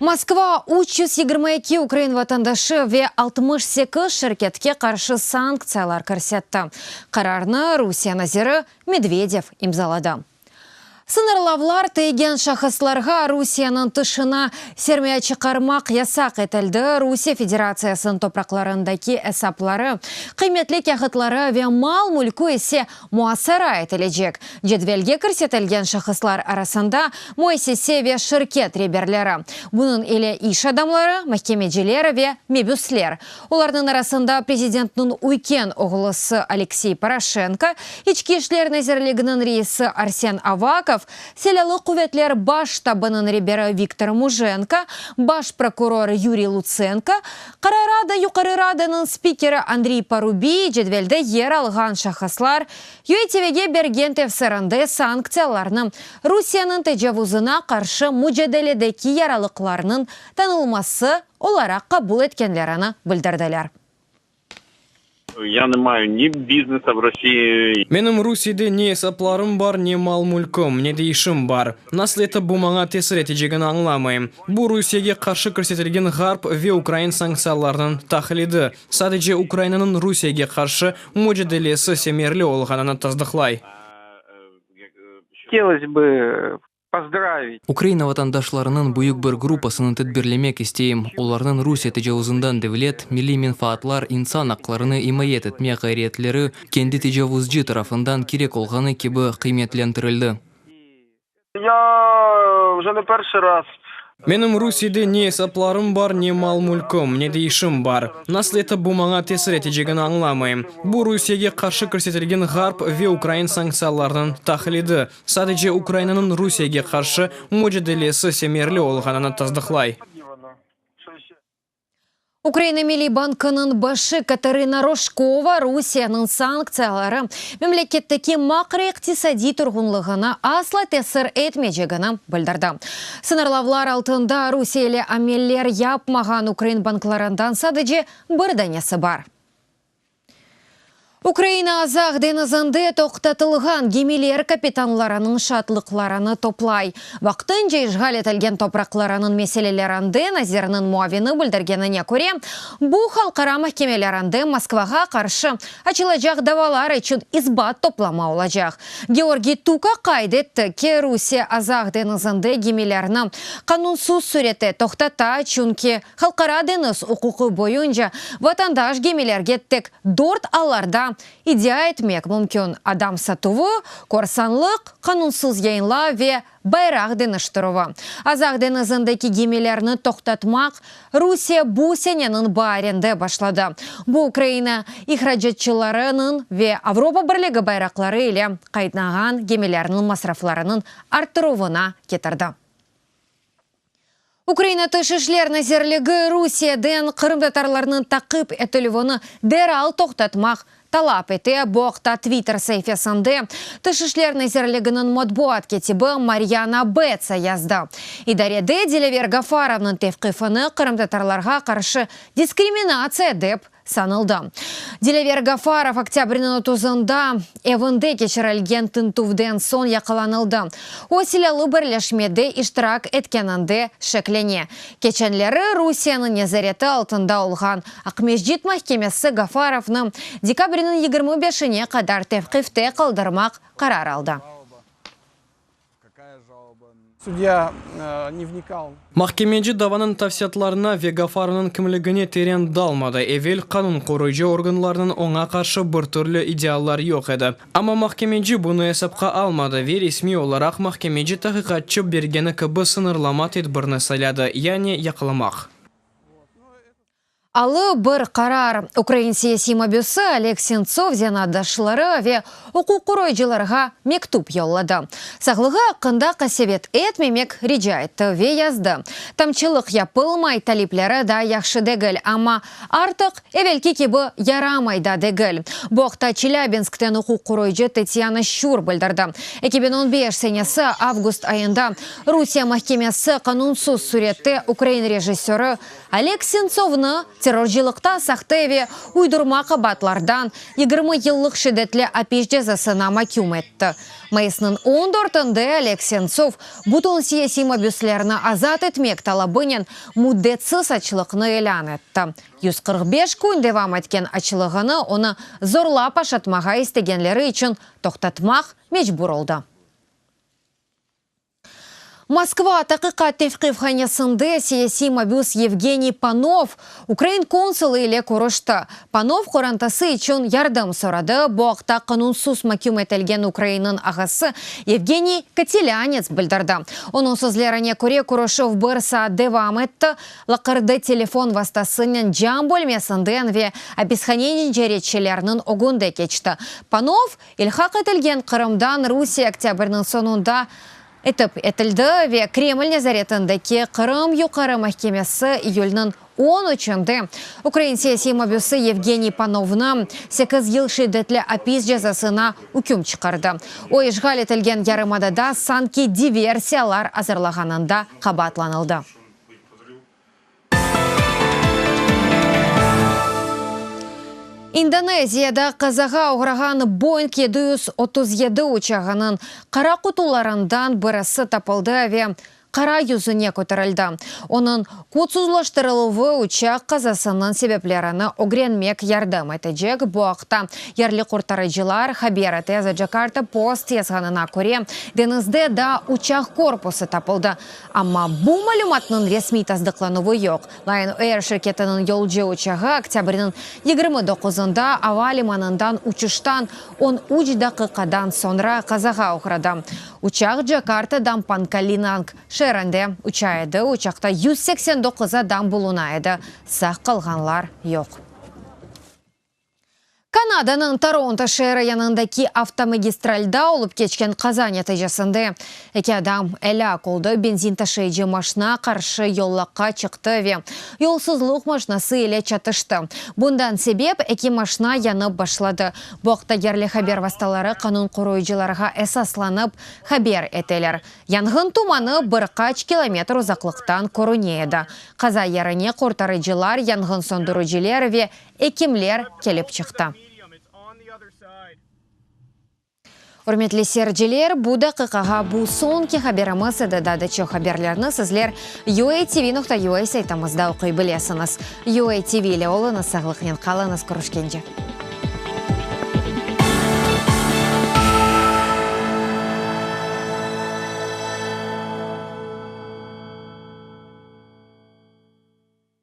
Moskva üç yüz yigirmi eki ukrain vatandaşı ve altmış sekiz şirketke qarşı sanktsiyalar kirsetti. Qararnı Rusiye naziri Medvedev imzaladı. Sıñırlavlar teygen şahıslarğa Rusiyeniñ tışına sermaye çıqarmaq yasaq etildi, Rusiye Federatsiyasınıñ topraqlarındaki esapları, qıymetli kâğıtları ve mal-mülkü ise Muasara etilecek cedvelge kirsetilgen şahıslar arasında müessise ve şirket reberleri, bunıñ ile iş adamları, mahkemeciler ve mebüsler, olarnıñ arasında prezidentniñ üyken oğlusı Aleksey Poroşenko, İçki işler nazirliginiñ reisi Arsen Avakov, Silâlı quvetler baş ştabınıñ reberi Viktor Mujenko, baş prokuror Yuriy Lutsenko, Qırı Rada Yuqarı Radanıñ spikeri Andriy Parubiy cedvelde yer alğan şahıslar YÖETVge bergen tefsirinde sanktsiyalarnı Rusiyeniñ tecavuzına qarşı mücadeledeki yaralıqlarnıñ tanılması olaraq qabul etkenlerini bildirdiler. Ya ne mayu ni biznesa v Rossiyi. Menim Rusiyede ne esaplarım bar, ne mal-mülküm, ne de işim bar. Nasıl etip bu maña tesir etecegini añlamayım. Bu Rusiyege qarşı kirsetilgen Ğarp ve ukrain sanktsiyalarnıñ taqlidi, sadece Ukrainanıñ Rusiyege qarşı mücadelesi semerli olğanını tasdıqlay. Htelosbi pozdravit. Ukraina vatandaşlarınıñ büyük bir gruppasını tedbirlemek isteyim, olarnıñ Rusiye tecavuzından devlet, milliy menfaatlar, insan aqlarını imayet etme ğayriyetleri kendi tecavuzcı tarafından kerek olğanı kibi qıymetlentirildi. Menim Rusiyede ne esaplarım bar, ne mal-mülküm, ne de işim bar. Nasıl etip bu maña tesir etecegini añlamayım. Bu Rusiyege qarşı kirsetilgen Ğarp ve ukrain sanktsiyalarınıñ tahlidi, Sadece Ukrainanıñ Rusiyege qarşı mücadelesi semerli olğanını tasdıqlay. Ukraina Milliy bankınıñ başı Katarina Roşkova Rusiyanıñ sanktsiyaları memleketteki makroiqtisadiy turğunlığına asla tesir etmeycegini bildirdi. Sıñırlavlar altında Rusiye ile ameller yapmağan ukrain banklarından sadece bir danesi bar. Ukraina Azaq deñizinde toqtatılğan gemiler kapitanlarınıñ şaatlıqlarını toplay. Vaqtınca işğal etilgen topraqlarınıñ meselelerinde nazirniñ muavini bildirgenine köre, bu halqara mahkemelerinde Moskvağa qarşı açılacaq davalar içün isbat toplama olacaq. Georgiy Tuka qayd etti ki, Rusiye Azaq deñizinde gemilerni qanunsız sürette toqtata, çünki, Halqara deñiz uquqı boyunca vatandaş gemilerge tek dört allarda iddia etmek mümkün, adam satuvı, korsanlıq, qanunsız yayınlav ve bayraq deñiştirüvi. Azaq deñizindeki gemilerni toqtatmaq Rusiye bu seneniñ baarinde başladı. Bu Ukraina ihracatçılarınıñ ve Avropa Birligi bayraqları ile qaytnağan gemilerniñ masraflarınıñ arttıruvına ketirdi. Ukraina Tış işler nazirligi Rusiyeden qırımtatarlarnıñ taqip etilüvini deral toqtatmaq talap ete. Bu aqta Twitter saifesinde Tış işler nazirliginiñ matbuat ketibi Maryana Betsa yazdı. İdarede Dilever Gafarovnıñ tevqifini qırımtatarlarğa qarşı diskriminatsiya dep sanıldı. Dilever Gafarov oktâbrniñ otuzında evinde keçirilgen tintüvden soñ yaqalanıldı. O, silâlı birleşmede iştirak etkeninde şeklene. Keçenleri Rusiyeniñ nezareti altında olğan Aqmescit mahkemesi Gafarovnı dekabrniñ yigirmi beşine qadar tevqifte qaldırmaq qarar aldı. Sudya ne vnikal. Mahkemeci davanıñ tafsiyatlarına ve Gafarovnıñ kimligine teren dalmadı, evel qanun qoruyıcı organlarnıñ oña qarşı bir türlü ideallar yoq edi. Amma mahkemeci bunı esapqa almadı ve resmiy olaraq mahkemeci tahqiqatçı bergeni kibi sıñırlama tedbirni sayladı, yani yaqlamaq. Alı bir qarar. Ukrain siyasiy mabüsi Oleg Sentsov zenaatdaşları ve uquq qoruyıcılarğa mektüp yolladı. Sağlığı aqqında qasevet etmemek rica etti ve yazdı, Tamçılıq yapılmay, talipleri daa yahşı degil, amma artıq evelki kibi yaramay da degil. Bu aqta Çelâbinskten uquq qoruyıcı Tetyana Şur bildirdi, eki biñ on beş senesi avgust ayında Rusiye mahkemesi qanunsız sürette ukrain rejissörı Oleg Sentsovnı terrorcılıqta sahte ve uydurma qabaatlardan yigirmi yıllıq şiddetli apis cezasına maküm etti. Mayısnıñ on dörtünde Oleg Sentsov bütün siyasiy mabüslerni azat etmek talabınen müddetsiz açlıqnı ilân etti. Yüz qırq beş kün devam etken açlığını onı zorlap aşatmağa istegenleri içün toqtatmaq mecbur oldı. Moskva, Taqiqat tevqifhanesinde siyasiy mabüs Yevgeniy Panov ukrain konsulı ile körüşti. Panov qorantası içün yardım soradı, bu aqta qanunsız maküm etilgen Ukrainniñ ağası Yevgeniy Kotelianets bildirdi. Onıñ sözlerine köre, körüşüv bir saat devam etti, laqırdı telefon vastasınen cam bölmesinden ve apishaneniñ caretçileriniñ ögünde keçti. Panov İlhaq etilgen Qırımdan Rusiye oktâbrniñ soñunda itip etildi ve Kreml nezaretindeki Qırım Yuqarı mahkemesi iyülniñ on üçünde ukrain siyasiy mabüsi Yevgeniy Panovnı sekiz yıl şiddetli apis cezasına üküm çıqardı. O, işğal etilgen yarımadada sanki diversiyalar azırlağanında qabaatlanıldı. İndoneziyada qazağa oğrağan Boeing yedi yüz otuz yedi uçağınıñ qara qutularından birisi tapıldı ve qara yüzüne köterildi. Onıñ kodsuzlaştırıluvı uçaq qazasınıñ sebeplerini ögrenmek yardım etecek, bu aqta yerli qurtarıcılar haber ete. The Jakarta Post yazğanına köre, deñizde daa uçaq korpusı tapıldı, Amma bu malümatnıñ resmiy tasdıqlanuvı yoq. Lion Air şirketiniñ yolcu uçağı oktâbrniñ yigirmi doquzında ava limanından uçuştan on üç daqiqadan soñra qazağa uğradı. Uçaq Cakartadan Pankalinank şeerinde uça edi, uçaqta yüz seksen doquz adam buluna edi, sağ qalğanlar yoq. Kanadanıñ Toronto şeeri yanındaki avtomagistralda olıp keçken qaza neticesinde eki adam elâk oldı, benzin taşıyıcı maşna qarşı yollaqqa çıqtı ve yolsuzluq maşnası ile çatıştı. Bundan sebep eki maşna yanıp başladı. Bu aqta yerli haber vastaları qanun qoruyıcılarğa esaslanıp haber eteler. Yanğın tumanı bir qaç kilometr uzaqlıqtan körüne edi. Qaza yerine qurtarıcılar, yanğın söndürüciler ve Ekimler kelip çıqtı. Ürmetli seyirciler, bu daqiqağa bu soñki haberimiz edi, daa da çoq haberlerni sizler UATV nokta UA saytımızda oquy bilesiñiz. UATV ile oluñız, sağlıqnen qalıñız, körüşkence.